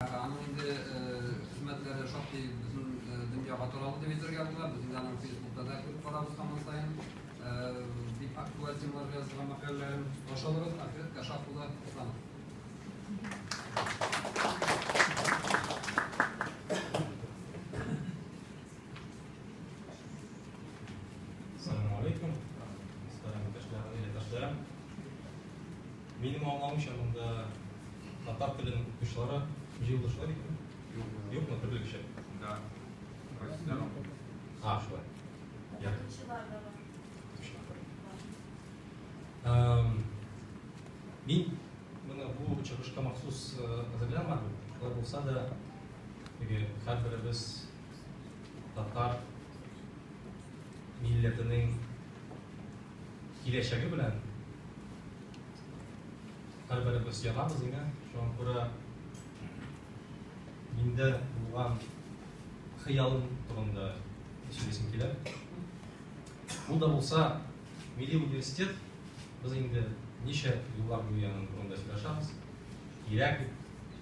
Аның инде хезмәтләре шактый бөтен дөньяга таралды дип әйтергә була. Без инде аның Фейсбукта да күреп барабыз һаман саен. Бик актуаль темаларга язылган мәкаләләрен каршы алабыз. Ахирәт Кашап улы Исламов. Салам алейкум. Мөхтәрәм иптәшләр, гаиләдәшләр. Минем аңлавымча, монда татар теленең укытучылары җыелдышалар икән. Юкмы, төрле кеше? Да. Россиядан алып. А, шулай. Укытучылар да бар. Мин моны бу чыгышка махсус әзерләмәдем. Шулай булса да, теге һәрберебез татар милләтенең Киләчәге белән һәрберебез янабыз иңә. Шуңа күрә миндә булган хыялым турында сөйлисем килә. Ул да булса, милли университет, без инде ничә еллар буе аның турында сөйләшәбез. Кирәк,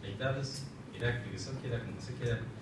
әйтәбез, кирәк, тегесе кирәк, монысы кирәк.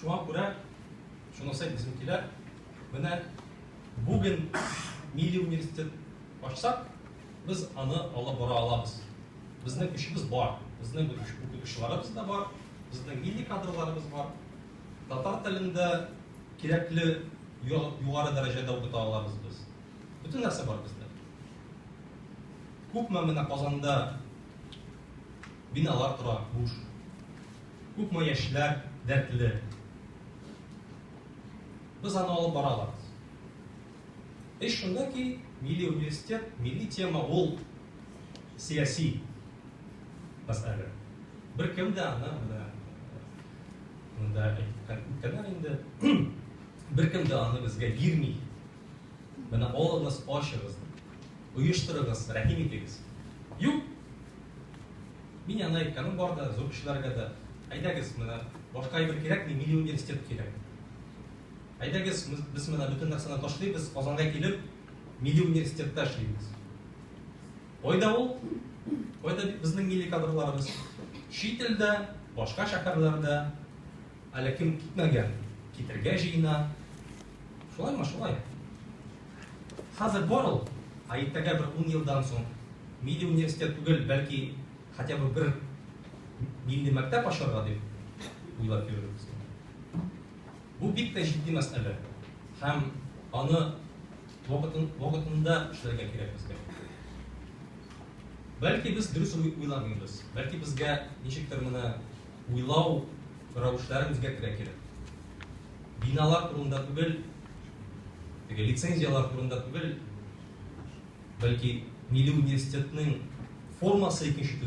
Шуңа күрә шунысы безнекиләр менә бүген милли университет ачсак, без аны алып бара алабыз. Безнең көчебез бар, безнең укытучыларыбыз да бар, безнең милли кадрларыбыз бар. Татар телендә кирәкле югары дәрәҗәдә укыта алабыз без. Бөтен нәрсә бар бездә. Күпме менә Казанда Биналар тора, буш. Күпме яшьләр дәртле. Без аны алып бара алабыз. Эш шунда ки, милли университет, милли тема ул сәяси мәсьәлә. Беркем дә аны менә монда әйткәннәр инде, беркем дә аны безгә бирми. Менә алыгыз, ачыгыз. Оештырыгыз, рәхим итегез. Юк! Мин аны әйткәнем бар да, зур кешеләргә дә. Әйдәгез, менә башка әйбер кирәкми, милли университет кирәк. Әйдәгез, без менә бөтен нәрсәне ташлыйбыз, Казанга килеп, милли университетта эшлибез. Кайда ул? Кайда безнең милли кадрларыбыз? Чит илдә, башка шәһәрләрдә. Әле кем китмәгән, китергә җыена. Шулай ма шулай. Хәзер бар ул, ә иртәгә бер ун елдан соң милли университет түгел, бәлки хотя бы бер милли мәктәп ачарга дип уйлап йөрербез. Бу бик тә җитди мәсьәлә һәм аны вакытын, вакытында эшләргә кирәк безгә. Бәлки без дөрес уйламыйбыз, бәлки безгә ничектер менә Уйлау рәвешләрен үзгәртергә кирәк. Биналар турында түгел, теге лицензияләр турында түгел, бәлки милли университетның формасы икенче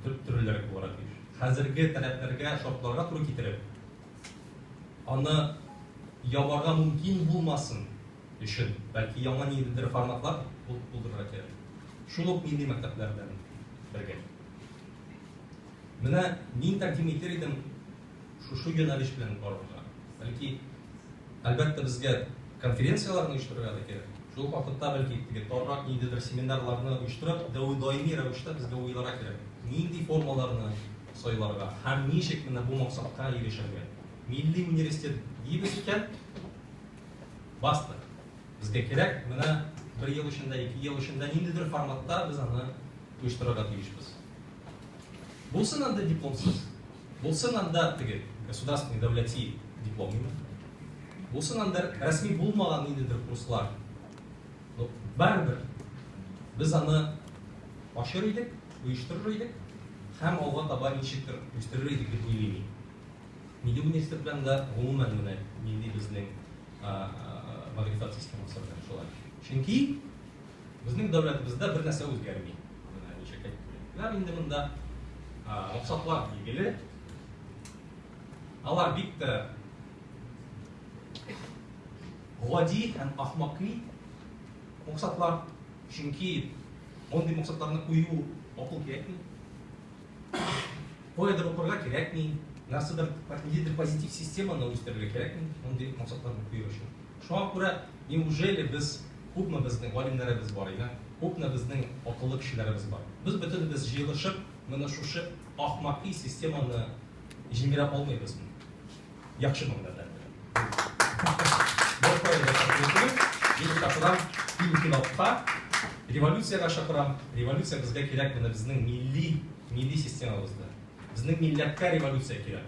төрлерәк булырга тиеш. Хәзерге таләпләргә, шартларга туры китереп, аны ябарга мөмкин булмасын өчен, бәлки яңа ниндидер форматлар булдырырга кирәк. Шул ук милли мәктәпләрдән бергә. Менә мин тәкъдим итер идем шушы юнәлеш белән барырга. Бәлки, әлбәттә, безгә конференцияләрне оештырырга да кирәк. Шул ук вакытта, бәлки, теге тарырак ниндидер семинарларны оештырып, даими рәвештә безгә уйларга кирәк, нинди формаларны сайларга һәм ничек менә бу максатка ирешергә. Милли университет дибез икән, бастык. Безгә кирәк, менә бер ел эчендә, ике ел эчендә ниндидер форматта без аны оештырырга тиешбез. Булсын анда дипломсыз, булсын анда теге государственный дәүләти диплом инде. Булсын анда рәсми булмаган ниндидер курслар. Ну, барыбер без аны ашыр идек, оештырыр идек һәм алга таба ничектер үстерер идек дип уйлыйм мин. Милли университет белән дә гомумән менә нинди безнең мәгърифәт системасы белән шулай. Чөнки Безнең дәүләтебездә бер нәрсә үзгәрми. Менә ничек әйттеләр инде монда. Максатлар билгеле. Алар бик тә гади һәм ахмакый максатлар. Чөнки мондый максатларны кую акыл кирәкми. Кайдыр укырга кирәкми, нәрсәдер, нидер позитив системаны үстерергә кирәкми, мондый максатларны кую өчен. Шуңа күрә, неужели без күпме безнең галимнәребез бар иде, күпме безнең акыллы кешеләребез бар. Без бөтенебез җыелышып менә шушы ахмакый системаны җимерә алмыйбызмы? Яхшымы менә белән белән? Бер кая да чыгып булмый. Мин чакырам инкыйлабка, революциягә чакырам. Революция безгә кирәк менә безнең милли, милли системабызда. Безнең милләткә революция кирәк.